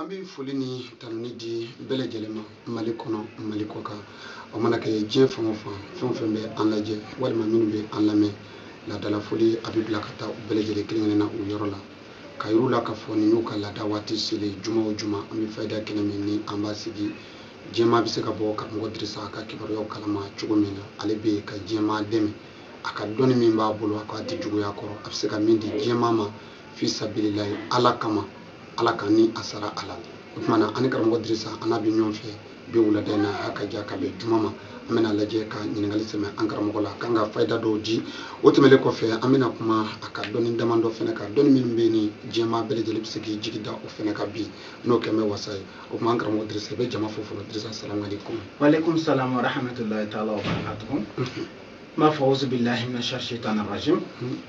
an bɛ foli ni tanuni di bɛɛ lajɛlen ma mali kɔnɔ mali kɔ kan o mana kɛ diɲɛ fan o fan fɛn o fɛn bɛ an lajɛ walima minnu bɛ an lamɛn laadala foli a bɛ bila ka taa u bɛɛ lajɛlen kelen-kelenna u yɔrɔ la ka yir'u la k'a fɔ nin y'u ka laada waati selen juma o juma an bɛ fayida kɛnɛ min ni an b'a sigi diɲɛmaa bɛ se ka bɔ karamɔgɔ dirisa ka kibaruyaw kalama cogo min na ale bɛ yen ka diɲɛmaa dɛmɛ a ka dɔnni min b'a bolo a k'a tɛ juguya kɔrɔ a bɛ se ka min di diɲɛmaa ma fi sabililayi ala kama ala k'an ni a sara a la o tuma na an ni karamɔgɔ dirisa an n'a bɛ ɲɔgɔn fɛ bi wulada in na a ka ja ka bɛn juma ma an bɛna lajɛ ka ɲininkali sɛmɛ an karamɔgɔ la k'an ka fayida dɔw di o tɛmɛlen kɔfɛ an bɛna kuma a ka dɔnni damadɔ fana kan dɔnni minnu bɛ yen ni diɲɛmaa bɛɛ lajɛlen bɛ se k'i jigi da o fana kan bi n'o kɛlen bɛ wasa ye o tuma an karamɔgɔ dirisa i bɛ jama fo fɔlɔ dirisa salamaleykum waleykum salam wa rahmatulahi taala wa barakatuhu n b'a fɔ awuzubilahi mina sayitani rajim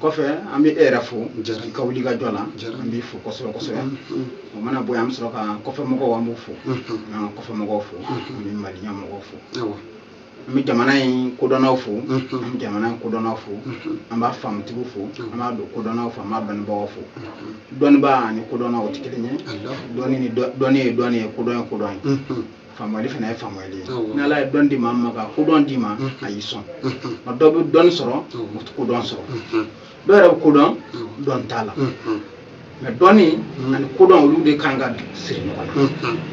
kɔfɛ an bɛ e yɛrɛ fo i ka wuli ka jɔ la an b'i fo kosɛbɛ kosɛbɛ o mana bɔ an bɛ sɔrɔ ka kɔfɛ mɔgɔw an b'u fo an ka kɔfɛ mɔgɔw fo an bɛ mali yan mɔgɔw fo an bɛ jamana in kodɔnnaw fo an bɛ jamana in kodɔnnaw fo an b'a faamutigiw fo an b'a dɔn kodɔnnaw fo an b'a dɔnnibagaw fo dɔnnibaa ani kodɔnna o tɛ kelen ye dɔnni ye dɔnni ye kodɔn ye kodɔn ye faamuyali fana ye faamuyali ye ni ala ye dɔnni di maa min ma ka kodɔn d'i ma a y'i sɔn nka dɔ bɛ dɔnni sɔrɔ o tɛ kodɔn sɔrɔ dɔ yɛrɛ bɛ ko dɔn dɔnni t'a la mɛ dɔnni ani kodɔn olu de kan ka siri ɲɔgɔn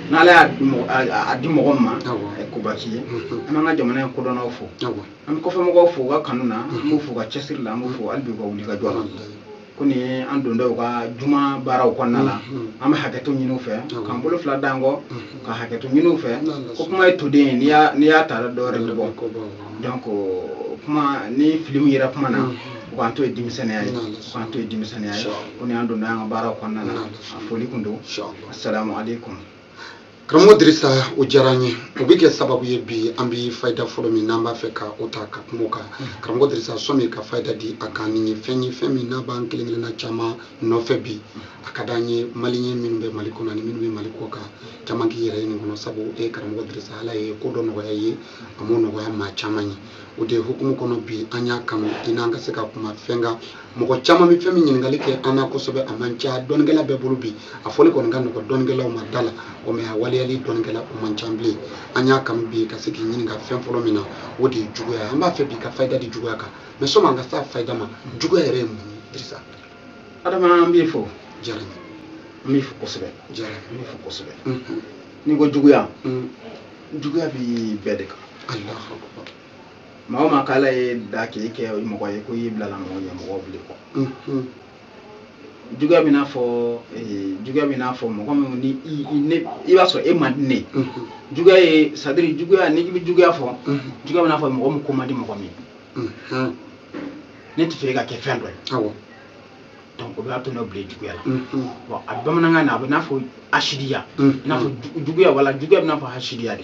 na n'ala y'a di mɔgɔ ma a ye koba k'i ye an b'an ka jamana in kodɔnnaw fo an bɛ kɔfɛ mɔgɔw fo u ka kanu na an b'u fo u ka cɛsiri la an b'u fo hali bi u ka wuli ka jɔ la ko nin ye an dontɔ u ka juma baaraw kɔnɔna la an bɛ hakɛto ɲini u fɛ k'an bolo fila d'an kɔ ka hakɛto ɲini u fɛ ko kuma ye toden ye n'i y'a n'i y'a ta dɔwɛrɛ bɛ bɔ donc kuma ni fili min yera kuma na u k'an to ye denmisɛnninya ye u k'an to ye denmisɛnninya ye ko nin y'an dontɔ y'an ka baaraw kɔnɔna na a foli kun don asalamu aleykum karamɔgɔ dirisa o diyara an ye o bɛ kɛ sababu ye bi an bɛ fayida fɔlɔ min n'an b'a fɛ ka o ta ka kuma o kan karamɔgɔ dirisa sɔmi ka fayida di a kan nin ye fɛn ye fɛn min n'a b'an kelen kelenna caman nɔfɛ bi a ka d'an ye maliyɛn minnu bɛ mali kɔnɔ ani minnu bɛ mali kɔ kan caman k'i yɛrɛ ye nin kɔnɔ sabu e karamɔgɔ dirisa ala ye ko dɔ nɔgɔya i ye a m'o nɔgɔya maa caman ye o de hukumu kɔnɔ bi an y'a kanu i n'an ka se ka kuma fɛn kan mɔgɔ caman bɛ fɛn min ɲininkali kɛ an na kosɛbɛ a man ca dɔnnikɛla bɛɛ bolo bi a fɔli kɔni ka nɔgɔ dɔnnikɛlaw ma da la o mɛ a waleyali dɔnnikɛla o man ca bilen an y'a kanu bi ka se k'i ɲininka fɛn fɔlɔ min na o de ye juguya ye an b'a fɛ bi ka fayida di juguya kan mɛ sɔmi an ka se a fayida ma juguya yɛrɛ ye mun ye dirisa adama an b'i fo jara an b'i fo kosɛbɛ jara n b'i fo kosɛbɛ mhm. n'i ko juguya mhm. juguya bɛ bɛɛ de kan maa o maa k'ala y'e da k'e kɛ mɔgɔ ye ko y'i bilala mɔgɔ ɲɛ mɔgɔ bil'i kɔ juguya bɛ n'a fɔ eh, juguya bɛ n'a fɔ mɔgɔ min ni i b'a sɔrɔ e man di ne juguya ye sahiri juguya ni i bɛ juguya fɔ juguya bɛ n'a fɔ mɔgɔ min ko man di mɔgɔ min ne t'a fɛ e ka kɛ fɛn dɔ ye donc o b'a to n'o bila juguya la bon a bamanankan na a bɛ n'a fɔ asidiya i n'a fɔ juguya wala juguya bɛ n'a fɔ asidiya de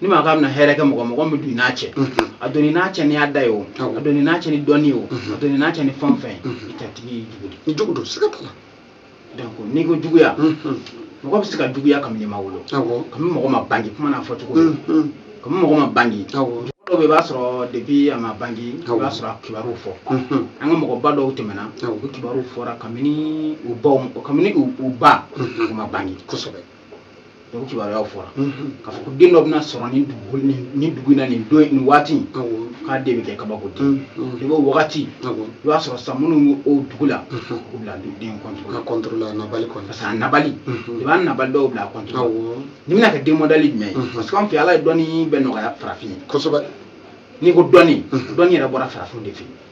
ni maa k'a bɛna hɛrɛ kɛ mɔgɔ mɔgɔ min don i n'a cɛ a don i n'a cɛ ni a da ye o a don i n'a cɛ ni dɔnni ye o a don i n'a cɛ ni fɛn o fɛn a tigi ye jugu de jugu don siga t'a la donc n'i ko juguya mɔgɔ bɛ se ka juguya kabini i ma wolo kabini mɔgɔ ma bange kuma n'a fɔ cogo kabini mɔgɔ ma bange dɔw bɛ i b'a sɔrɔ depuis a ma bange i b'a sɔrɔ a kibaruw fɔ an ka mɔgɔba dɔw tɛmɛna u kibaruw fɔra kabini u baw kabini u baw ma bange kosɛbɛ donc kibaruyaw fɔra k'a fɔ ko den dɔ bɛna sɔrɔ nin dugu nin dugu in na nin don nin waati k'a den bɛ kɛ kabako den ye bon o wagati i b'a sɔrɔ sa minnu o dugu la u bila den contre contre a nabali contre parce que a nabali i b'a nabali dɔw bila contre nin bɛna kɛ den modèle jumɛn ye parce que an fɛ ala ye dɔnni bɛɛ nɔgɔya farafin ye kosɛbɛ n'i ko dɔnni dɔnni yɛrɛ bɔra farafin de fɛ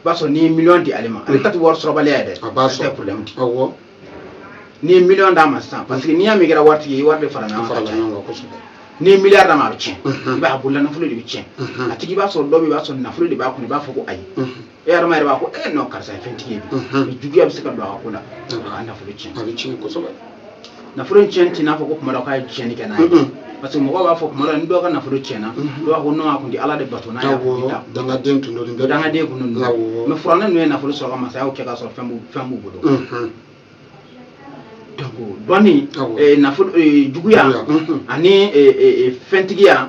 i b'a sɔrɔ n'i ye miliyɔn di ale ma ale ta tɛ wari sɔrɔbaliya ye dɛ a b'a ale tɛ sɔrɔ problème de awɔ n'i ye miliyɔn d'a ma sisan parce que n'i y'a mɛn i kɛra wari tigi ye i wari de farala ɲɔgɔn kan farala ka caya. ɲɔgɔn kan kosɛbɛ n'i ye miliyari d'a ma a bɛ tiɲɛ Mhm. i b'a ye a bolola nafolo de bɛ tiɲɛ Mhm. a tigi i b'a sɔrɔ dɔ bɛ yen, i b'a sɔrɔ nafolo de b'a kun i b'a fɔ ko ayi Mhm. e yɛrɛ maa yɛrɛ b'a fɔ ko eh non karisa ye fɛntigi ye bi Mhm. juguya bɛ se ka don a ka ko la a ka nafolo tiɲɛ a bɛ tiɲɛ kosɛbɛ nafolo in tiɲɛ tɛ n'a fɔ ko kuma dɔ k'a ye tiɲɛni kɛ n'a ye parce que mɔgɔw b'a fɔ kuma dɔ ni dɔw ka nafolo tiɲɛna dɔw b'a fɔ non a kun tɛ ala de bato n'a y'a kun ta dangaden tun don nin bɛɛ dangaden kun don mais firawuna ninnu ye nafolo sɔrɔ ka masayaw kɛ k'a sɔrɔ fɛn b'u fɛn b'u bolo donc dɔnni nafolo juguya ani fɛntigiya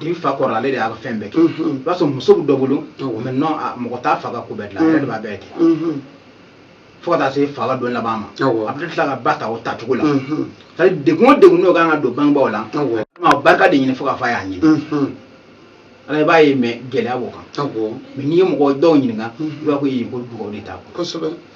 den fa kɔrɔ ale de y'a ka fɛn bɛɛ kɛ i b'a sɔrɔ muso bɛ dɔ bolo mais non mɔgɔ t'a fa ka ko bɛɛ dilan ale de b'a bɛɛ kɛ fo ka taa se fa don laban ma a bɛ tila ka ba ta o tacogo la degun o degun n'o ka kan ka don bangebaw la barika de ɲini fo ka fa y'a ɲini ala b'a ye mais gɛlɛya b'o kan mais n'i ye mɔgɔ dɔw ɲininka u b'a fɔ ko dugawu de ta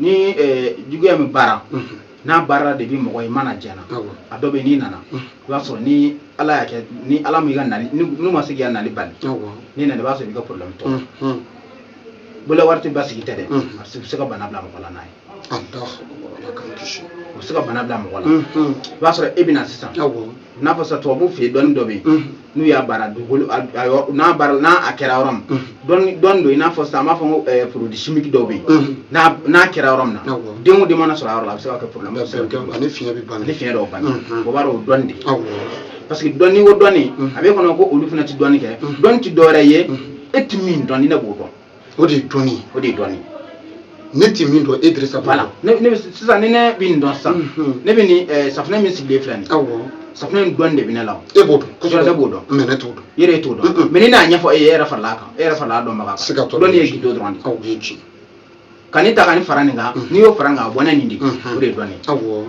ni eh, juguya min baara n'a baara de bɛ mɔgɔ i mana jɛna Awɔ. a dɔ bɛ n'i nana i b'a sɔrɔ ni ala y'a kɛ ni ala m'i ka nali ni- n'u ma se k'i ka nali bali Awɔ. n'i nana i b'a sɔrɔ i b'i ka problème tɔ Mhm. bolola wari tɛ basigi tɛ dɛ Mhm. a bɛ se- bɛ se ka bana bila mɔgɔ la n'a ye Allahu akbar. Ala k'an kisi. u bɛ se ka bana bila mɔgɔ la Mhm. i b'a sɔrɔ e bɛ na sisan Awɔ. n'a fɔ sisan tubabuw fɛ yen dɔnni dɔ bɛ yen Mhm. n'u y'a baara dugukolo a- a yɔrɔ- n'a baara n'a a kɛra yɔrɔ min Mhm. dɔnni dɔnni don i n'a fɔ sisan an b'a fɔ ko ɛɛ produit chimique dɔw bɛ yen Mhm. n'a n'a kɛra yɔrɔ min na Awɔ. den o den mana sɔrɔ a yɔrɔ la a bɛ se ka kɛ problème Nka fɛn kɛ- ani fiɲɛ bɛ bana ani fiɲɛ dɔw banna Mhm. o b'a dɔn o dɔnni de ye awɔ parce que dɔnni o dɔnni Mhm. a b'i kɔnɔ ko olu fana tɛ dɔnni kɛ Mhm. dɔnni tɛ dɔwɛrɛ ye Mhm. e tɛ min dɔn ni ne b'o dɔn o de ye dɔnni ye o de ye dɔnni ye ne tɛ min dɔn e dirisa b'a la ne ne sisan ni ne bɛ nin dɔn sisan mhm. ne bɛ nin eh, safunɛ min sigilen filɛ nin ye awɔ safunɛ in dɔnni de bɛ ne la e b'o dɔn kosɛbɛ ne b'o dɔn mɛ ne t'o dɔn yɛrɛ e t'o dɔn mhm. mɛ ni ne y'a ɲɛfɔ e ye e yɛrɛ farala a kan e yɛrɛ farala a dɔnbaga kan siga t'o la dɔnni ye gundo dɔrɔn de ye awɔ o ye tiɲɛ ye ka nin ta ka nin fara nin kan mhm. n'i y'o fara nin kan a bɔ ni nin de o de ye dɔnni ye awɔ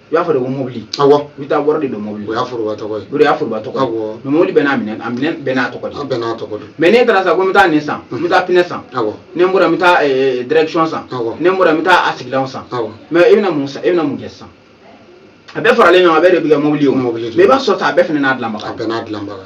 u y'a fɔ de ko mobili awɔ i bɛ taa wari de don mobili o y'a foroba tɔgɔ ye o de y'a foroba tɔgɔ ye awɔ mɛ mobili bɛɛ n'a minɛn a minɛn bɛɛ n'a tɔgɔ de a bɛɛ n'a tɔgɔ don mɛ n'e taara sa ko n bɛ taa nin san n bɛ taa pinɛ san awɔ ne bɔra n bɛ taa eh, direction san Awɔ. ne bɔra n bɛ taa a sigilanw san awɔ mɛ e bɛna mun san e bɛna mun kɛ sisan a bɛɛ faralen ɲɔgɔn kan a bɛɛ de bɛ kɛ mobili ye o Mobili de mɛ i b'a sɔrɔ sa a bɛɛ fana n'a dilanbaga a bɛɛ n'a dilanbaga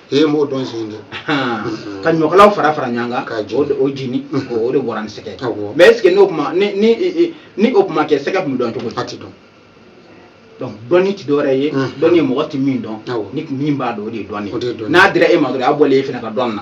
ee mɔgɔ dɔ de ka ɲɔkalaw fara fara ɲɔgɔn kan o o jeni o de bɔra ni sɛgɛ mɛ est ce que n'o tun ma ni ni ni o tun ma kɛ sɛgɛ tun bɛ dɔn cogo di a tɛ dɔn donc dɔnni tɛ dɔwɛrɛ ye dɔnni ye mɔgɔ tɛ min dɔn ni min b'a dɔn o de ye dɔnni ye n'a dira e ma dɔrɔn a bɔlen e fana ka dɔn na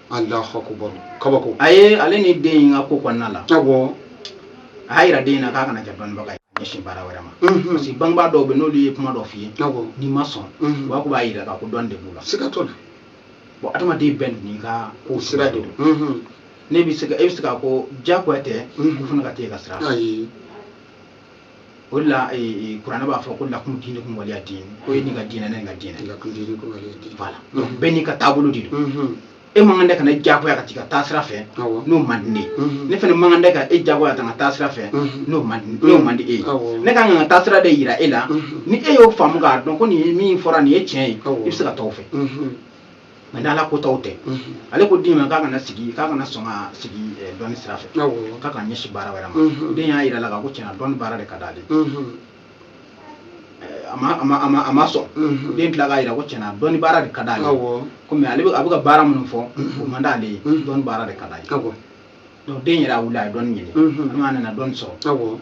Alahu akubaru kabako a ye ale ni den in ka ko kɔnɔna la awɔ a y'a yira den in na k'a kana kɛ dɔnnibaga ye ka ɲɛsin baara wɛrɛ ma Mhm. parce que bangebaa dɔw bɛ n'olu ye kuma dɔ f'i ye awɔ n'i ma sɔn Mhm. u b'a ko b'a yira k'a ko dɔnni de b'u la siga t'o la bon adamaden bɛɛ n'i ka ko sira de don Mhm. ne bɛ se ka e bɛ se k'a ko diyagoya tɛ Mhm. u fana ka t'e ka sira fɛ ayi o de la kuranɛ b'a fɔ ko lakum diinikum waliya diin ko e n'i ka diinɛ ne ni n ka diinɛ voilà donc bɛɛ n'i ka taabolo de don mhm. e man kan de ka ne diyagoya ka t'i ka taasira fɛ n'o man di ne ye mhm. ne fana man kan de ka e diyagoya ka taa n ka taasira fɛ mhm. n'o man di n'o man di e ye ne ka kan ka n ka taasira de yira e la ni e y'o faamu k'a dɔn ko nin ye min fɔra nin ye tiɲɛ ye i bɛ se ka taa o fɛ mɛ ni ala ko taw tɛ ale ko den ma k'a kana sigi k'a kana sɔn ka sigi eh, dɔnni sira fɛ k'a kana ɲɛsi baara wɛrɛ ma den y'a yira a la k'a ko tiɲɛna dɔnni baara de ka d'ale ye, a ma sɔn den tilala k'a yira ko tiɲɛna dɔnni baara de ka d'ale komi ale a bɛ ka baara minnu fɔ o man d'ale ye dɔnni baara de ka d'ale donc den yɛrɛ wulila a ye dɔnni ɲini a nana dɔnni sɔrɔ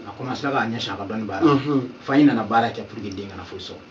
a kɔmasera k'a ɲɛsin a ka dɔnni baara fa in nana baara kɛ pour que den kana foyi sɔrɔ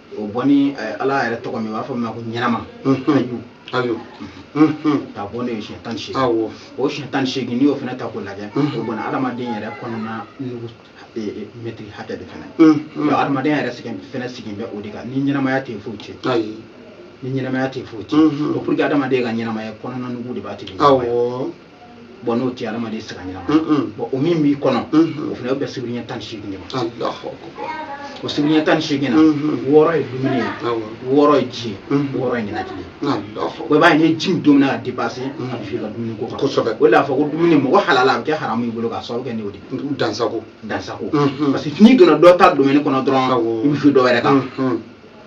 o bɔ ni eh, ala yɛrɛ tɔgɔ min b'a fɔ min ma ko ɲɛnama hayu ayo ka bɔ ni eh siɲɛ tan ni seegin awɔ o siɲɛ tan ni seegin n'i y'o fana ta k'o lajɛ o bɔ ni adamaden yɛrɛ kɔnɔna nugu eh, eh, mɛtiri hakɛ de fana Donc, adamaden yɛrɛ fana sigilen bɛ o de kan ni ɲɛnamaya tɛ yen foyi tɛ yen ayi ni ɲɛnamaya tɛ yen foyi tɛ yen Mhm. donc pour que adamaden ka ɲɛnamaya kɔnɔna nugu de b'a tigi ɲɛnamaya. awɔ bɔn n'o tɛ adamaden sira ɲɛnama bɔn o min b'i kɔnɔ o fana o bɛ sibiri ɲɛ tan ni seegin de ma o sibiri ɲɛ tan ni seegin na wɔɔrɔ ye dumuni ye wɔɔrɔ ye ji ye wɔɔrɔ ye ninakili ye o b'a ye ni ji don na a depase a bɛ fi ka dumuni ko kan kosɛbɛ o de y'a fɔ ko dumuni mɔgɔ halala a bɛ kɛ haramu i bolo k'a sababu kɛ n'o de dansago dansago parce que n'i donna dɔ ta dumuni kɔnɔ dɔrɔn i bɛ bin dɔ wɛrɛ kan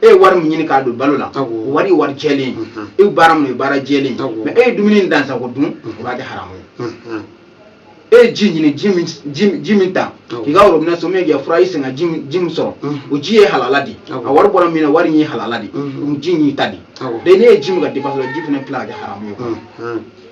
e ye wari min ɲini k'a don balo la o wari ye wari jɛlen ye e ye baara min ye baara jɛlen ye mɛ e ye dumuni dansago dun o b'a kɛ haramu ye e ye ji ɲini ji min ta k'i ka worobinɛ somagep forage i se ka ji min sɔrɔ o ji ye halala de a wari bɔra min na wari in ye halala de ji y'i ta de de n'i ye ji min ka depase ji fana tila k'a kɛ haramu ye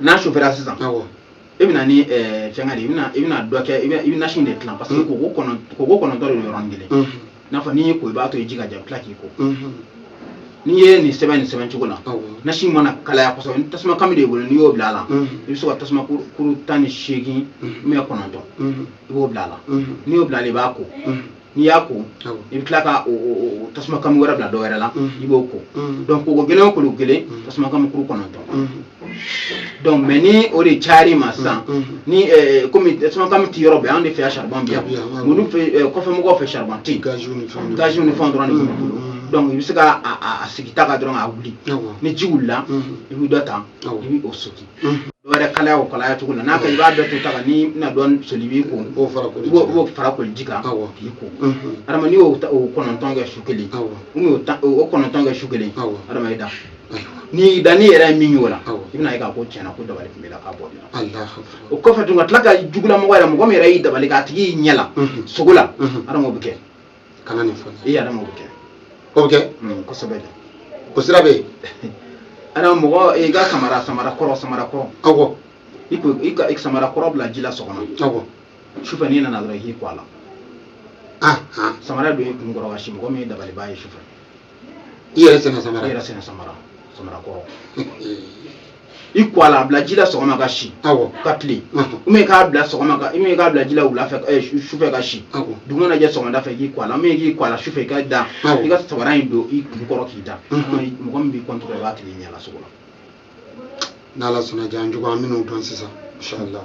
n'a sofɛra sisan i bɛna ni eh, fɛngɛ de i bɛna dɔ kɛ i bɛ nasi de tilan parce que koko kɔnɔntɔn de don yɔrɔnin kelen i n'a fɔ n'i y'i ko i b'a to i ji ka ja i bɛ tila k'i ko n'i ye nin sɛbɛn nin sɛbɛn cogo la nasi mana kalaya kosɛbɛ ni tasuma kami de b'i bolo n'i y'o bila a la i bɛ se ka tasuma kuru tan ni seegin mɛ kɔnɔntɔn i b'o bila a la n'i y'o bila a la i b'a ko n'i y'a ko i bɛ tila ka tasuma kami wɛrɛ bila dɔ wɛrɛ la i b'o ko donc ko kelen o ko kelen tasuma kami kuru kɔnɔntɔn don mɛ ni o gɛlɛyar'i ma sisan ni kɔmi tasuma kami tɛ yɔrɔ bɛɛ an de fɛ saribɔn bɛ yan kɔfɛ mɔgɔw fɛ saribɔn tɛ gaz ni fɛn dɔrɔn de b'u bolo dɔnku i bɛ se k'a sigi ta kan dɔrɔn a wuli ni ji wulila i bɛ dɔ ta i bɛ o so wɛrɛ kalaya o kalaya cogo la nka i b'a bɛɛ to ta kan n'i bɛna dɔ soli k'i ko b'o fara koli b'o b'o fara koli ji kan k'i ko adama n'i y'o ko kɔnɔntɔn kɛ su kelen ko kɔnɔntɔn kɛ su kelen adama i da n'i da n'i yɛrɛ ye min y'o la i bɛn'a ye k'a ko tiɲɛ na ko dabali tun b'i la k'a bɔ i la o kɔfɛ tugun ka tila ka jugulamɔgɔ yɛrɛ mɔgɔ min yɛrɛ y'i dabali k'a tigi y'i ɲɛ la sugo la adama o bɛ kɛ kana nin fo i yɛrɛ m'o kɛ o bɛ kɛ kosɛbɛ dɛ o sira bɛ yen adama n ko i ka samara samara kɔrɔ samara kɔrɔ awɔ i ko i ka samara kɔrɔ bila ji la sɔgɔma awɔ sufɛ n'i nana dɔrɔn i k'i ko a la samara don i kun kɔrɔ ka si mɔgɔ min y'i dabalibaa ye sufɛ i yɛrɛ sen na samara i yɛrɛ sen na samara samara kɔrɔ i ko a la a bila ji la sɔgɔma ka si ka tile ou même k'a bila sɔgɔma ka ou même k'a bila ji la wula fɛ sufɛ ka si dugu mana jɛ sɔgɔmada fɛ k'i ko a la ou même k'i ko a la sufɛ i ka da i ka sabara in don i kun kɔrɔ k'i da mɔgɔ min b'i kɔntɔrɔ i b'a tigi y'i ɲɛ la sugo la n'ala sɔnna ja an jugu an bɛn'o dɔn sisan inshallah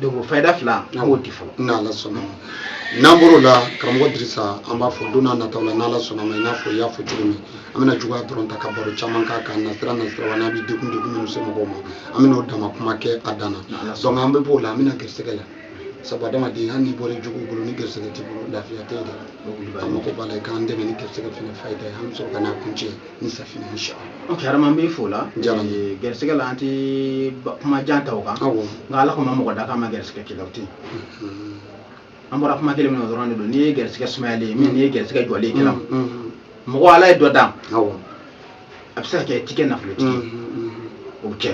donc fayida fila an b'o di fɔlɔ n'ala sɔnna n'an bɔr'o la karamɔgɔ dirisa an b'a fɔ don nataw la n'ala sɔnna ma i n'a fɔ i y'a fɔ cogo min an bɛna juguya dɔrɔn ta ka baro caman k'a kan nasira nasira wa n'a bɛ degun degun minnu se mɔgɔw ma an bɛna o dama kuma kɛ a dan na donc an bɛ b'o la an bɛna gɛrisɛgɛ la sabu adamaden hali n'i bɔra juguw bolo ni gɛrisɛgɛ t'i bolo lafiya tɛ yen dɛ an mago b'a la i k'an dɛmɛ ni gɛrisɛgɛ fana fayida ye an bɛ sɔrɔ ka n'a kuncɛ ni safinɛ in sɔrɔ ok adama n b'i fo la eh, gɛrisigɛ la an tɛ kuma jan ta o kan nka ala kɔni ma mɔgɔ da k'a ma gɛrisigɛ k'i la o tɛ mm-hmm. an bɔra kuma kelen min na o dɔrɔn de don n'i ye gɛrisigɛ sumayalen ye min n'i ye gɛrisigɛ jɔlen k'i la mm-hmm. mm-hmm. mɔgɔ ala ye dɔ dan a bɛ se ka kɛ i ti kɛ nafolotigi o bɛ kɛ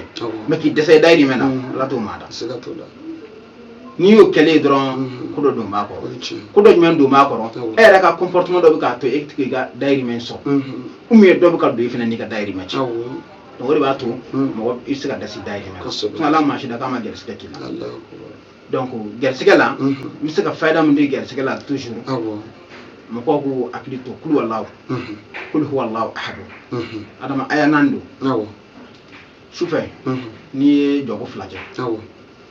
mɛ k'i dɛsɛ i dayirimɛ na ala t'o maa da n'i y'o kɛlen ye dɔrɔn ko dɔ don b'a kɔrɔ ko dɔ jumɛn don b'a kɔrɔ e yɛrɛ ka comportement dɔ bɛ k'a to e tɛ k'i ka dayirimɛ sɔrɔ ou bien dɔ bɛ ka don e fana n'i ka dayirimɛ cɛ donc o de b'a to mɔgɔ i tɛ se ka da s'i dayirimɛ ma komi ala ma maa si da k'a ma gɛrɛsɛgɛ k'i la donc gɛrɛsɛgɛ la n bɛ se ka fayida min di gɛrɛsɛgɛ la toujours mɔgɔw k'u hakili to kuluwalahu kuluwalahu ahadu adama aya naani don sufɛ n'i ye jɔko fila kɛ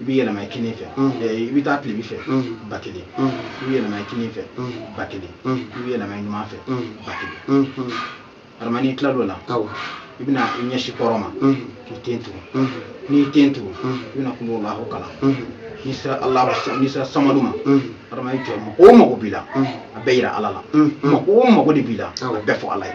i bɛ yɛlɛma i kinin fɛ i bɛ taa tilebi fɛ ba kelen i bɛ yɛlɛma i kinin fɛ ba kelen i bɛ yɛlɛma i numan fɛ ba kelen adama n'i tilala o la i bɛna i ɲɛsin kɔrɔn ma k'i ten tugu n'i y'i ten tugu i bɛna kuluwalahu kalan n'i sera ala n'i sera samadu ma adama mako o mako b'i la a bɛɛ yira ala la mako o mako de b'i la a bɛɛ fɔ ala ye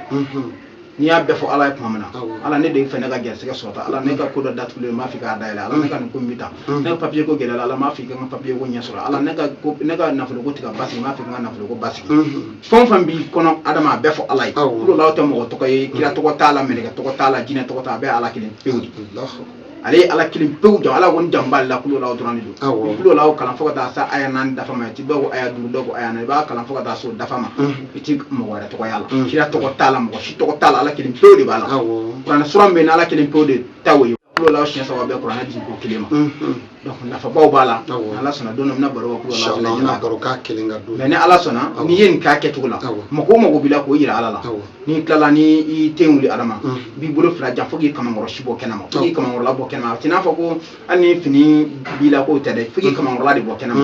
n'i y'a bɛɛ fɔ ala ye tuma min na ala ne de fɛ ne ka gɛrɛsɛgɛ sɔrɔta ala ne ka ko dɔ datugulen m'a fɛ k'a dayɛlɛ ala ne ka nin ko n bɛ ta ne ka papiye ko gɛlɛyara ala m'a fɛ ka n ka papiye ko ɲɛ sɔrɔ ala ne ka ne ka nafolo ko tɛ ka basigi m'a fɛ ka n ka nafolo ko basigi fɛn o fɛn b'i kɔnɔ adama a bɛɛ fɔ ala ye kuluwalahu tɛ mɔgɔ tɔgɔ ye kira tɔgɔ t'a la mɛlɛkɛ tɔgɔ t'a la jinɛ tɔgɔ t'a bɛɛ ala kelen pewu ale ye ala kelen pewu jɔ ala kɔni janba la kuluwalahu dɔrɔn de don Awɔ. ni kuluwalahu kalan fo ka taa se aya naani dafa ma i ti dɔw ko aya duuru dɔw ko aya naani i b'a kalan fo ka taa se o dafa ma i ti mɔgɔ wɛrɛ tɔgɔ y'a la Mhm. kira tɔgɔ t'a la mɔgɔ si tɔgɔ t'a la ala kelen pewu de b'a la Awɔ. kuranɛ sura min bɛ yen ni ala kelen pewu de ta o ye kuluwalahu siɲɛ saba bɛ bɛn kuranɛ jigin ko kelen ma Mhm. nafa baw b'a la ala sɔnna don min baro baro'a kelen ka don mɛ ni ala sɔnna n'i ye nin k'a kɛcogo la mako o mako b'i la k'o jira ala la n'i tilala ni i ten wuli adama b'i bolo fila jan fo k'i kamakɔrɔsi bɔ kɛnɛma k'i kamakɔrɔla bɔ kɛnɛma a tɛ n'a fɔ ko hali ni fini b'i la k'o tɛ dɛ fo k'i kamakɔrɔla de bɔ kɛnɛma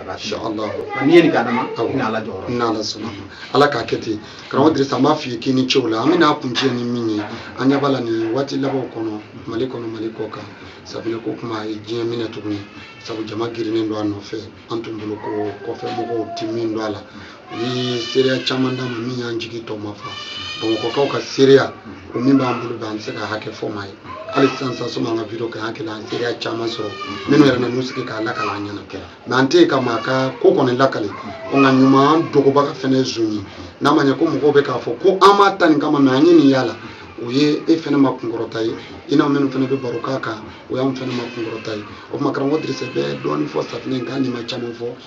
n'i ye nin ka dama ka kun ala jɔyɔrɔ n'ala sɔnna ala k'a kɛ ten karamɔgɔ dirisa an b'a f'i ye k'i ni ce o la an bɛn'a kuncɛ ni min ye an ɲɛ b'a la nin waati labanw kɔnɔ mali kɔnɔ mali kɔ kan sabula ko kuma a ye diɲɛ minɛ tuguni sabu jama girinnen don a nɔfɛ an tun bolo ko kɔfɛ mɔgɔw tɛ min dɔn a la ni seereya caman d'a ma min y'an jigi tɔ ma fa bamakɔkaw ka seereya o min b'an bolo bɛ an bɛ se ka hakɛ fɔ maa ye hali sisan sisan sani an ka video kɛ an hakili an seereya caman sɔrɔ minnu yɛrɛ nan'u sigi k'a lakali an ɲɛna mɛ an tɛ yen ka maa ka ko kɔni lakali o nka ɲuman dogobaga fɛnɛ ye zon ye n'a ma ɲɛ ko mɔgɔw bɛ k'a fɔ ko an b'a ta nin kama mɛ an ye min y'a la o ye e fɛnɛ ma kunkɔrɔta ye i n'an minnu fɛnɛ bɛ baro k'a kan o y'an fɛnɛ ma kunkɔrɔta ye o tuma karamɔgɔ dirisa bɛ dɔɔnin fɔ safinɛ in kan n'i ma caman fɔ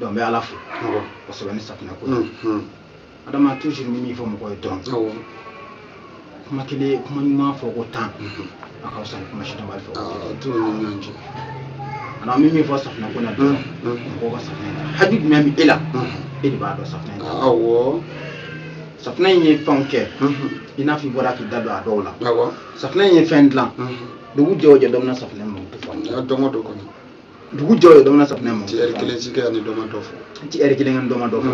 donc n bɛ ala fo kosɛbɛ ni safinɛ ko adama toujours n bɛ min fɔ mɔgɔ ye donc kuma kelen kuma ɲuman fɔ ko tan a ka fisa ni kuma si dɔnbali fɔ ana min min fɔ safinɛ ko in na donc mɔgɔw ka safinɛ ta haju jumɛn bɛ e la e de b'a dɔn safinɛ ta awɔ safinɛ in ye fɛnw kɛ i n'a fɔ i bɔra k'i da don a dɔw la safinɛ in ye fɛn dilan dugu jɛ o jɛ dɔ bɛ na safinɛ mako fɔ dɔn o dɔ kɔni dugu jɛ o jɛ dɔ bɛ na safunɛ ma ci ɛri kelen tɛ kɛ ni dɔ ma dɔ fɔ ci ɛri kelen ani dɔ ma dɔ fɔ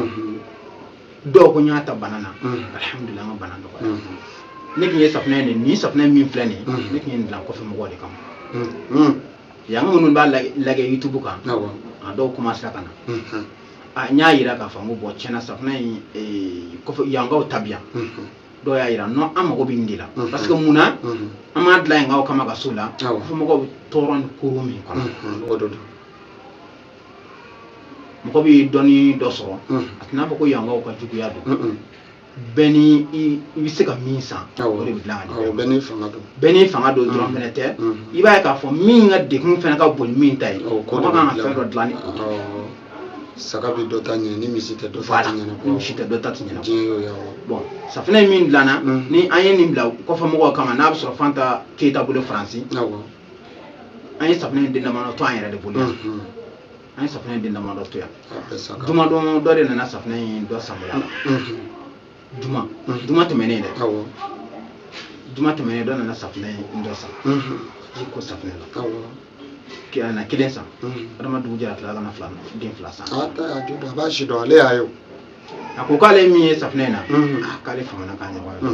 dɔw ko n y'a ta bana na alihamudulila an ka bana dɔgɔya ne tun ye safunɛ nin nin safunɛ min filɛ nin ne tun ye nin dilan kɔfɛ mɔgɔw de kama yanka minnu b'a lajɛ youtube kan a dɔw commencera ka na a n y'a yira k'a fɔ n ko bɔn tiɲɛ na safunɛ in kɔfɛ yankaw ta bɛ yan dɔw y'a yira nɔ an mago bɛ nin de la mhm. parce que mun na mhm. an m'a dilan yankaw kama ka so la fo mɔgɔw bɛ tɔɔrɔ ni koro min kɔnɔ mhm. o de don mɔgɔ bɛ dɔɔnin dɔ sɔrɔ a tɛna fɔ ko yankaw ka juguya don bɛɛ ni i bɛ se ka min san o de bɛ dilan ka di bɛɛ n'i fanga don bɛɛ n'i fanga don dɔrɔn fɛnɛ tɛ i b'a ye k'a fɔ min ka degun fɛnɛ ka bon ni min ta ye mɔgɔ kan ka fɛn dɔ dilan ni o ye saga bɛ dɔ ta ɲɛ ni misi tɛ dɔ ta tɛ ɲɛ ni misi tɛ dɔ ta tɛ ɲɛ diɲɛ y'o ye awɔ bon safinɛ in min dilanna mm. ni an ye nin dilan kɔfɛ mɔgɔw kama n'a bɛ sɔrɔ fanta keyita bolo faransi awɔ an ye safinɛ in den damadɔ to an yɛrɛ de bolo yan mm-hmm. an ye safinɛ in den damadɔ to yan jumadon dɔ de nana safinɛ in dɔ san n bolo la mm-hmm. juma juma tɛmɛnen dɛ awɔ juma tɛmɛnen dɔ nana safunɛ in dɔ san ji ko safunɛ la awɔ a na kelen san adama dugu jɛra tilala ka na fila den fila san a ta a to a b'a si dɔn ale y'a ye o a ko k'ale min ye safunɛ in na ah, k'ale famana k'a ɲɔgɔn ye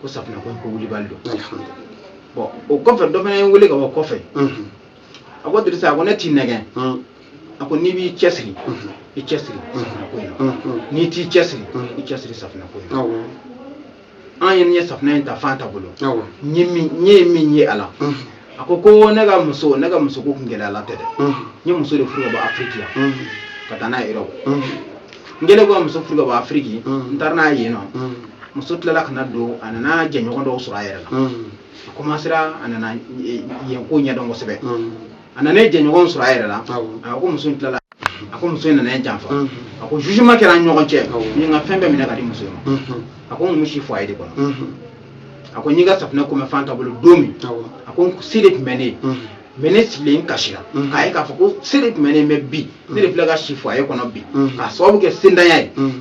ko safunɛ ko ko wulibali don bɔn o kɔfɛ dɔ fana ye n wele ka bɔ kɔfɛ a ko dirisa a ko ne t'i nɛgɛn a ko n'i b'i cɛsiri i cɛsiri safinɛ ko in na n'i t'i cɛsiri i cɛsiri safinɛ ko in na an ye n ye safinɛ in ta fanta bolo n ye min n ye min ye a la a ko ko ne ka muso ne ka muso ko kun gɛlɛya la tɛ dɛ n ye muso de furu ka bɔ afiriki la ka taa n'a ye europe n kɛlen kɔ ka muso furu ka bɔ afiriki n taara n'a ye yen nɔ muso tilala ka na donc a nana jɛɲɔgɔn dɔw sɔrɔ a yɛrɛ la a commencera a nana eh, yen ko ɲɛdɔn kosɛbɛ Mm. a nana yen jɛɲɔgɔn sɔrɔ a yɛrɛ la Awɔ. a ko muso in tilala a ko muso in nana ne janfa Mhm. a ko jugement kɛra an ni ɲɔgɔn cɛ Awɔ. u ye n ka fɛn bɛɛ minɛ ka di muso in ma Mhm. a ko n tun bɛ si foyer de kɔnɔ Mhm. a ko n y'i ka safunɛ ko mɛn fanta bolo don min Awɔ. a ko se de tun bɛ ne ye Mhm. mais ne sigilen n kasira Mhm. k'a ye k'a fɔ ko se de tun bɛ ne ye mais bi ne de filɛ ka si foyer kɔnɔ bi Mhm. k'a sababu kɛ sentanya ye Mhm.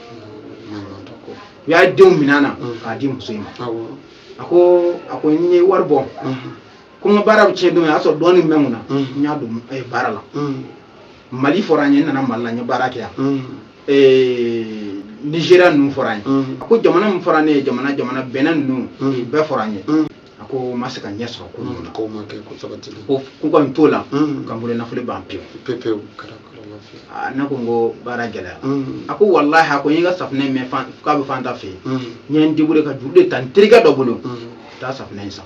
u y'a denw minɛ n na mm. k'a di muso in ma a ko a ko n ye wari bɔ mm-hmm. ko n ka baara bɛ tiɲɛ don min o y'a sɔrɔ dɔɔnin bɛ n kunna mm. n y'a don eh, baara la mm. mali fɔra n ye n nana mali la n ye baara kɛ yan eh, nizeriya ninnu fɔra n ye a ko jamana min fɔra ne ye jamana jamana bɛnɛ ninnu bɛɛ fɔra n ye a ko n ma se ka ɲɛ sɔrɔ ko ninnu na k'o ma kɛ ko sabati ko k'u ka n t'o la ka n bolo nafolo ban pewu pewu ne ko n ko baara gɛlɛya a ko walahi a ko n y'i ka safunɛ in mɛn k'a bɛ fan ta fɛ yen n ye n deburuye ka juru de ta n terikɛ dɔ bolo taa safunɛ in san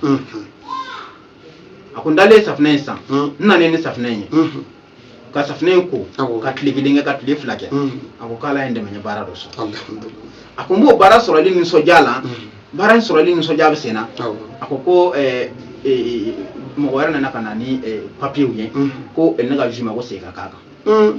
a ko n taalen safunɛ in san n nana ni safunɛ in ye ka safunɛ in ko ka tile kelen kɛ ka tile fila kɛ mm. a ko k'ala ye n dɛmɛ n ye baara dɔ sɔrɔ a ko n b'o baara sɔrɔli nisɔndiya la mm. baara in sɔrɔli nisɔndiya bɛ sen na a ko ko eh, eh, eh, mɔgɔ wɛrɛ nana ka na ni papiyew ye mm. ko ne ka juma ko segin ka k'a kan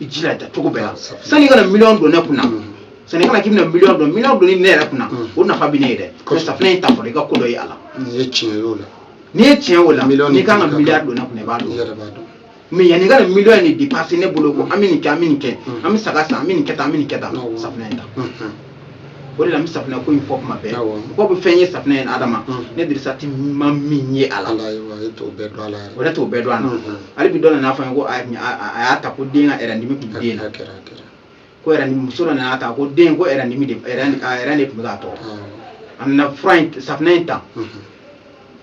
i jija cogo bɛɛ la sani i ka na miliyɔn don ne kunna sani i ka na k'i bɛna miliyɔn don miliyɔn donni ne yɛrɛ kunna o nafa bɛ ne ye dɛ mɛ safinɛ in ta fɔlɔ i ka ko dɔ ye a la n'i ye tiɲɛ y'o la n'i ye tiɲɛ o la n'i ka kan ka miliyari don ne kunna i b'a don mɛ yanni i ka na miliyɔn in de depase ne bolo ko an bɛ nin kɛ an bɛ nin kɛ an bɛ saga san an bɛ nin kɛ tan an bɛ nin kɛ tan safinɛ in ta o de la n bɛ safinɛ ko in fɔ tuma bɛɛ Awɔ. mɔgɔ bɛ fɛn ye safinɛ ye adama Mhm. ne dirisa jati ma min ye a la ala ye wa e t'o bɛɛ dɔn ala o yɛrɛ t'o bɛɛ dɔn a la Mhm. hali bi dɔ nan'a fɔ n ye ko a a- a- a y'a ta ko den ka ɛrɛndimi tun bɛ den na a kɛra a kɛra ko ɛrɛndimi muso dɔ nan'a ta ko den ko ɛrɛndimi de ɛrɛn a ɛrɛn de tun bɛ k'a tɔɔrɔ Awɔ. a nana fura in safinɛ in ta Mhm.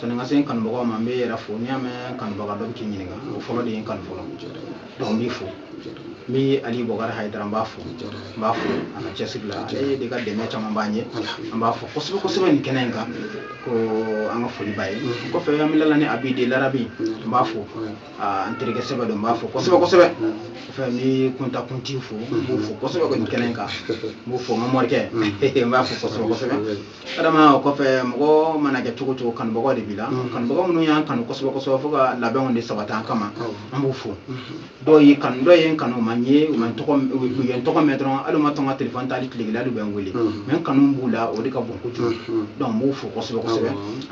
sani n ka se n kanubagaw ma n b'i yɛrɛ fo n'i y'a mɛn kanubaga dɔ bɛ k'i ɲininka o fɔlɔ de ye n kanu fɔlɔ donc n b'i fo n bɛ ali bɔkari hayidara n b'a fo n b'a fo a ka cɛsiri la ale de ka dɛmɛ caman b'an ye an b'a fo kosɛbɛ kosɛbɛ nin kɛnɛ in kan ko an ka foli b'a ye kɔfɛ an bɛ lala ni abi de larabi n b'a fo an terikɛ sɛbɛ don n b'a fo kosɛbɛ kosɛbɛ kɔfɛ n bɛ kunta kinti fo n b'o fo kosɛbɛ nin kɛnɛ in kan n b'o fo n ka morikɛ n b'a fo kosɛbɛ kosɛbɛ adama o kɔfɛ mɔgɔ mana kɛ cogo o cogo kanubagaw de b'i la mm-hmm. kanubagaw minnu y'an kanu kosɛbɛ kosɛbɛ fo ka labɛnw de sabati an kama oh. an b'u fo mm-hmm. dɔw y'i kanu dɔw ye n kanu u ma n ye u ma tɔgɔ u ye n tɔgɔ mɛn dɔrɔn hali u ma to n ka telefɔni ta hali tile kelen hali u bɛ n wele mɛ mm-hmm. n kanu b'u la o de ka bon kojugu donc n b'u fo kosɛbɛ kosɛbɛ oh.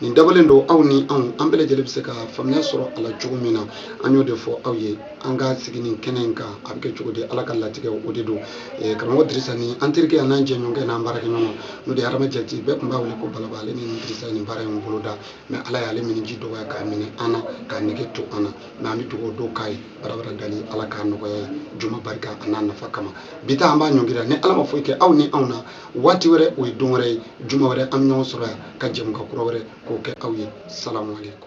nin dabɔlen don aw ni anw an bɛɛ lajɛlen bɛ se ka faamuya sɔrɔ a la cogo min na an y'o de fɔ aw ye an ka sigi nin kɛnɛ in kan a bɛ kɛ cogo di ala ka latigɛ o de don eh, karamɔgɔ dirisa ni an terikɛ n'an jɛɲɔgɔnkɛ n'an baarakɛɲɔgɔn n'o de ye adama jati bɛɛ tun b'a wele ko balaba ale ni ne dirisa ye nin baara in boloda mɛ ala y'ale minji dɔgɔya k'a minɛ an na k'a nege to an na mɛ an bɛ dugawu don k'a ye barabara dali ala k'a nɔgɔya ye juma barika a n'a nafa kama bi ta an b'a ɲɔngiri ni ala ma foyi kɛ aw ni anw na waati wɛrɛ o ye don wɛrɛ ye juma wɛrɛ an bɛ ɲɔgɔn sɔrɔ yan ka jɛmukan kura wɛrɛ k'o kɛ aw ye salamu aleykum